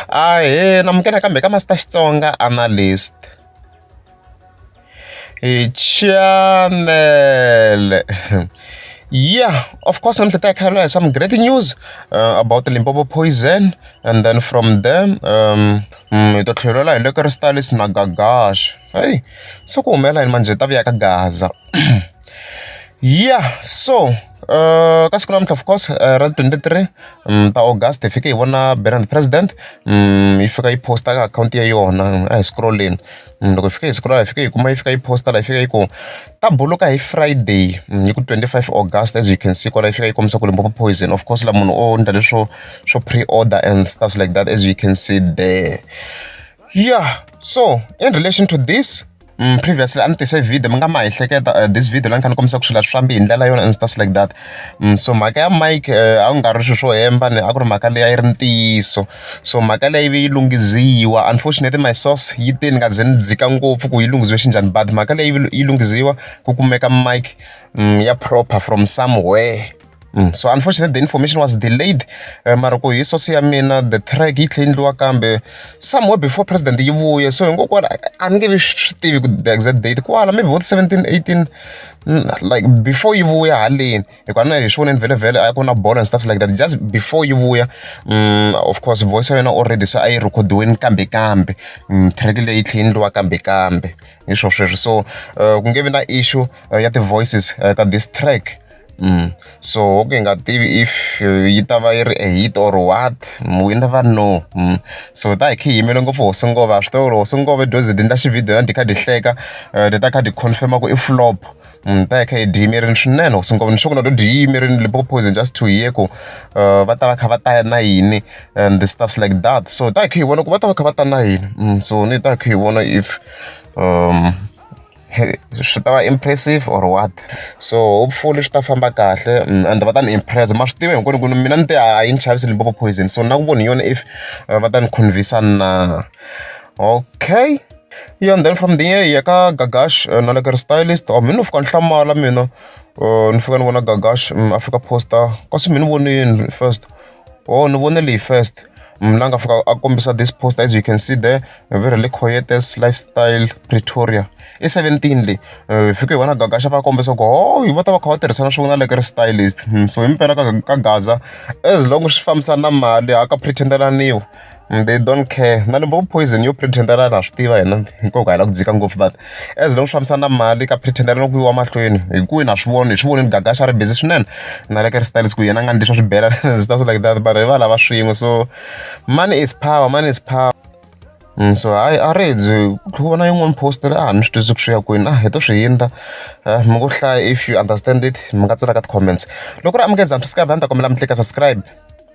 Ahee na amukela kambe ka Master Xitsonga Analyst. Chanele ya of course namuntlha hi ta hi kha hi lwa hi some great news about Limpopo poison and then from there hi to tlhelela hi le ka ri Stalis na Gagash hayi se ku humelela yini manjhe hi ta vuya ka Gaza. yeah so uh, ka siku namuntlha of course uh, ra 23 um, ta august hi fike hi vona banner the president um, yi fika yi posta ka akhawunti ya yona a hi scrolleni um, loko hi fika hi scrolla hi fika hi kuma yi fika yi posta la hi fika yi ku ta buluka hi friday um, yi ku 25 august as you can see kwala yi fika yi kombisa ku limpopo poison of course la munhu o ndla leswo swo pre-order and stuff like that as you can see there yeah so in relation to this Previously a ni tise video mi nga ma ehleketa this video la ni kha ni kombisa ku swilo swi fambi hi ndlela yona and stuff like that so mhaka ya mic a ku nga ri swilo swo hemba ni a ku ri mhaka leyi a yi ri ntiyiso so mhaka leyi yi ve yi lunghiziwa unfortunately my source yi te ni nga ze ni dzika ngopfu ku yi lunghisiwe xi njhani but mhaka leyi yi lunghiziwa ku kumeka mic ya proper from somewhere. so unfortunately the information was delayed eh, mara ku hi sosi ya mina the track yi tlhe endliwa kambe somewhere before president yi vuye so hinkokwala a ni nge vi swi tivi ku the exact date kwala maybe vo 17 18 mm, like before yi vuya haleni hikuva na hi swi voneni vhele vhele a ku na bolo and stuff like that just before yi vuya mm, of course voice ya yena already se a yi rhekhodiweni kambe kambe mm, track leyi yi tlhe endliwa kambe kambe hi swo sweswo so eh, ku nge vi na issue eh, ya ti-voices eh, ka this track so ku hi nga tivi if yi ta va yi ri a hit or what we never know so hi ta hi kha hi yimele ngopfu hosi ngo va swi tiva ku ri hosi ngo va i dyoze i endla xividiyo na dyi kha dyi hleka ni ta kha dyi confirm-a ku i flop hi ta hi kha hi dyi yimerile swinene hosi ngo va ni sure ku na loko hi dyi yimerile Limpopo Poison just to hear ku va ta va kha va ta na yini and the stuffs like that so hi ta hi kha hi vona ku va ta va kha va ta na yini so ni hi ta hi kha hi vona if . swi ta va impressive or what so hopefully swi ta famba kahle and va ta ni impress ma swi tiva hinkwenu ku mina ni te a yi ni chavisi Limpopo poison so na ku voni yona if va ta ni convince na okay yeah and then from there ya ka gagash eh, na le ka ri stylist or oh, mina ni fika ni hlamala mina eh, ni fika ni vona gagash mm, africa poster kasi mi ni vonini first Ohh ni vone leyi first munhu la nga fika a kombisa this poster as you can see there very le Coetes lifestyle Pretoria i seventeen leyi hi fike hi vona Gagasha va kombisa ku hoo va ta va kha va tirhisana swin'we na le ka ri stylist so himpela ka ka gaza as long swi fambisana na mali a ka pretend-eliwa. They don't care na loko vo poison yo pretend-ela na swi tiva hina hinkwavo hi lava ku dzika ngopfu but as long swi fambisana na mali ka pretend-ela loko ku yiwa mahlweni hi ku na swi vona hi swi vonile Gagash a ri busy swinene na le ka ri styles ku yena a nga ni leswi a swi bela stuff like that vanhu hi va lava swin'we so money is power money is power so hayi a ri byi ku vona yin'wana post ri a ha ni swi twisisi ku swi ya kwini a hi to swi hindza mi ngo hlaya if you understand it mi nga tsala ka ti-comments loko ri amukela subscribe a ni ta kombela mi tleka subscribe.